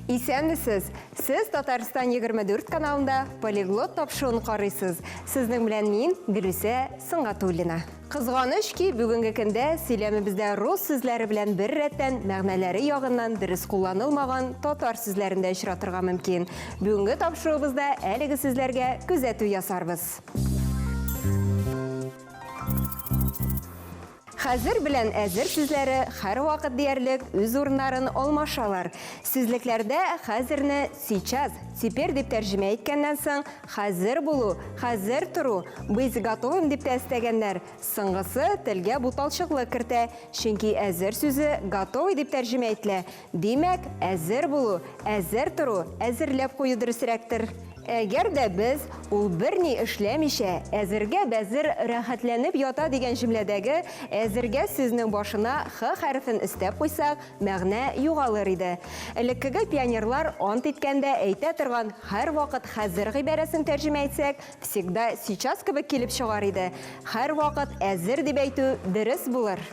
Исәнмесез! Сез Татарстан 24 каналында полиглот тапшыуын карыйсыз. Сезнең белән мин, Гөлүсә Сыңгатуллина. Кызганыч ки, бүгенге көндә сөйләмебездә рус сүзләре белән бер рәттән мәгънәләре ягыннан дөрес кулланылмаган татар сүзләрен дә очратырга мөмкин. Бүгенге тапшыруыбызда әлеге сүзләргә күзәтү ясарбыз. Хәзер белән әзер сүзләре һәрвакыт диярлек үз урыннарын алмашалар. Сүзлекләрдә хәзерне сейчас, теперь дип тәрҗемә иткәннән соң, Хәзер булу, хәзер тору, быть готовым дип тә өстәгәннәр. Соңгысы телгә буталчыклык кертә, чөнки әзер сүзе готовый дип тәрҗемә ителә. Димәк, әзер булу, әзер тору, әзерләп кую дөресрәктер. Әгәр дә без, ул берни эшләмичә, әзергә бәзер рәхәтләнеп ята дигән җөмләдәге әзергә сүзнең башына х хәрефен өстәп куйсак, Мәгънә югалыр иде. Элеккеге пионерлар ант иткәндә әйтә торган һәрвакыт хәзер гыйбарәсен тәрҗемә итсәк, всегда сейчас кебек килеп чыгар иде. Һәрвакыт әзер дип әйтү дөрес булыр.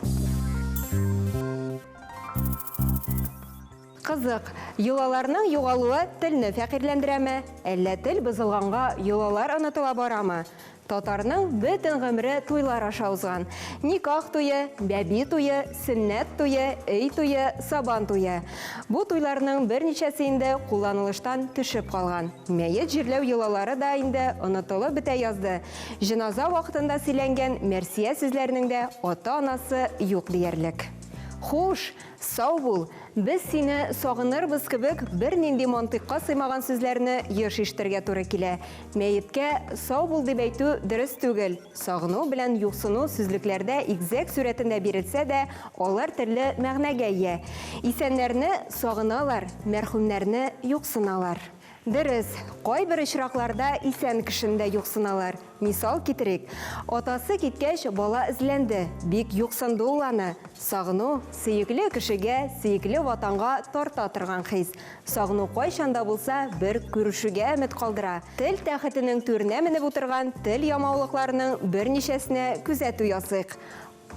Кызык, йолаларның югалуы телне фәкыйрьләндерәме? Әллә тел бозылганга йолалар онытыла барамы? Татарның бөтен гомере туйлар аша узган. Никах туе, бәби туе, сөннәт туе, өй туе, сабан туе. Бу туйларның берничәсе инде кулланылыштан төшеп калган. Мәет җирләү йолалары да инде онытылып бетә язды. Җеназа вакытында сөйләнгән мәрсия сүзләренең дә ата-анасы юк диярлек. Хуш, Сау бул! Без сине сагынырбыз кебек бернинди мантыйкка сыймаган сүзләрне еш ишетергә туры килә. Мәеткә сау бул дип әйтү дөрес түгел. Сагыну белән юксыну сүзлекләрдә игезәк сурәтендә бирелсә дә, алар төрле мәгънәгә ия. Исәннәрне сагыналар, мәрхүмнәрне юксыналар. Дөрес, кайбер очракларда исән кешене дә юксыналар. Мисал китерик, атасы киткәч, бала эзләнде, бик юксынды ул аны. Сагыну, сөекле кешегә, сөекле Ватанга тарта торган хис. Сагыну кайчан да булса бер күрешүгә өмет калдыра. Тел тәхетенең түренә менеп утырган тел ямаулыкларының берничәсенә күзәтү ясыйк.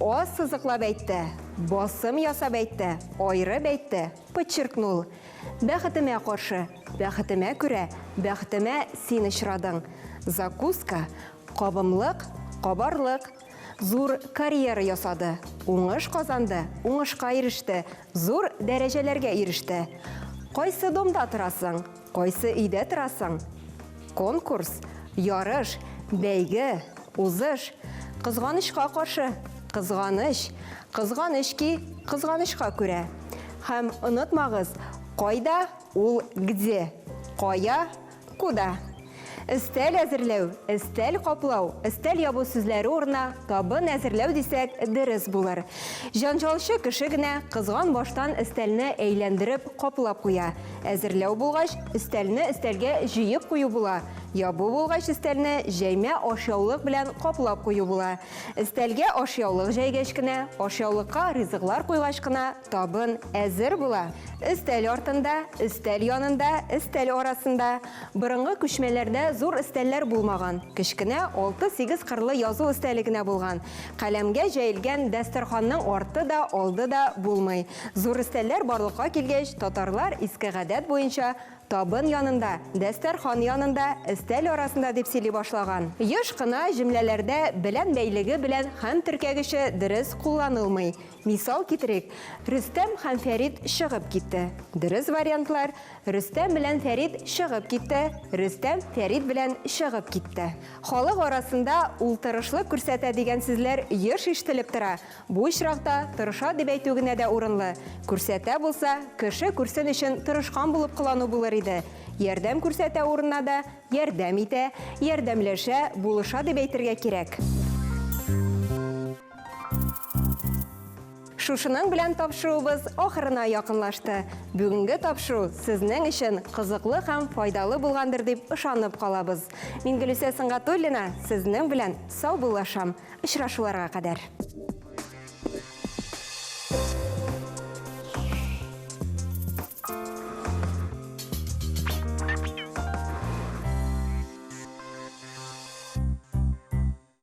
Аз сызыклап әйтте, басым ясап әйтте, аерып әйтте, подчеркнул. Бәхетемә каршы, бәхетемә күрә, бәхтемә син очрадың. Закуска, кабымлык, кабарлык. Зур карьера ясады, уңыш казанды, уңышка иреште, зур дәрәҗәләргә иреште. Кайсы домда торасың? Кайсы өйдә торасың? Конкурс, ярыш, бәйге, узыш. Кызганычка каршы, кызганыч. Кызганыч ки, кызганычка күрә. Һәм онытмагыз, кайда, ул где. Кая, куда. Өстәл әзерләү, өстәл каплау, өстәл ябу сүзләре урынына табын әзерләү дисәк, дөрес булыр. Җанҗалчы кеше генә кызган баштан өстәлне әйләндереп, каплап куя. Әзерләү булгач, өстәлне өстәлгә җыеп кую була. Ябу булгач, өстәлне җәймә ашъяулык белән каплап кую була. Өстәлгә ашъяулык җәйгәч кенә, ашъяулыкка ризыклар куйгач кына, Табын әзер була. Өстәл артында, өстәл янында, өстәл арасында. Борынгы күчмәләрдә зур өстәлләр булмаган. Кечкенә алты-сигез кырлы язу өстәле генә булган. Каләмгә җәелгән дәстәрханның арты да, алды да булмый. Зур өстәлләр барлыкка килгәч, татарлар иске гадәт буенча табын янында, дәстәрхан янында, өстәл арасында дип сөйли башлаган. Еш кына җөмләләрдә белән бәйлеге белән хәм теркәгече дөрес кулланылмый. Мисал китерик, Рөстәм һәм Фәрит чыгып китте. Дөрес вариантлар, Рөстәм белән Фәрит чыгып китте, Рөстәм Фәрит белән чыгып китте. Халык арасында Ул тырышлык күрсәтә дигән сүзләр еш ишетелеп тора. Бу очракта тырыша дип әйтү генә дә урынлы. Күрсәтә булса, кеше күрсен өчен тырышкан булып кылану булыр иде. Ярдәм күрсәтә урынына да ярдәм итә, ярдәмләшә, булыша дип әйтергә кирәк. Шушының белән тапшыруыбыз ахырына якынлашты. Бүгенге тапшыру сезнең өчен кызыклы һәм файдалы булгандыр дип ышанып калабыз. Мин Гөлүсә Сыңгатуллина сезнең белән саубуллашам. Очрашуларга кадәр.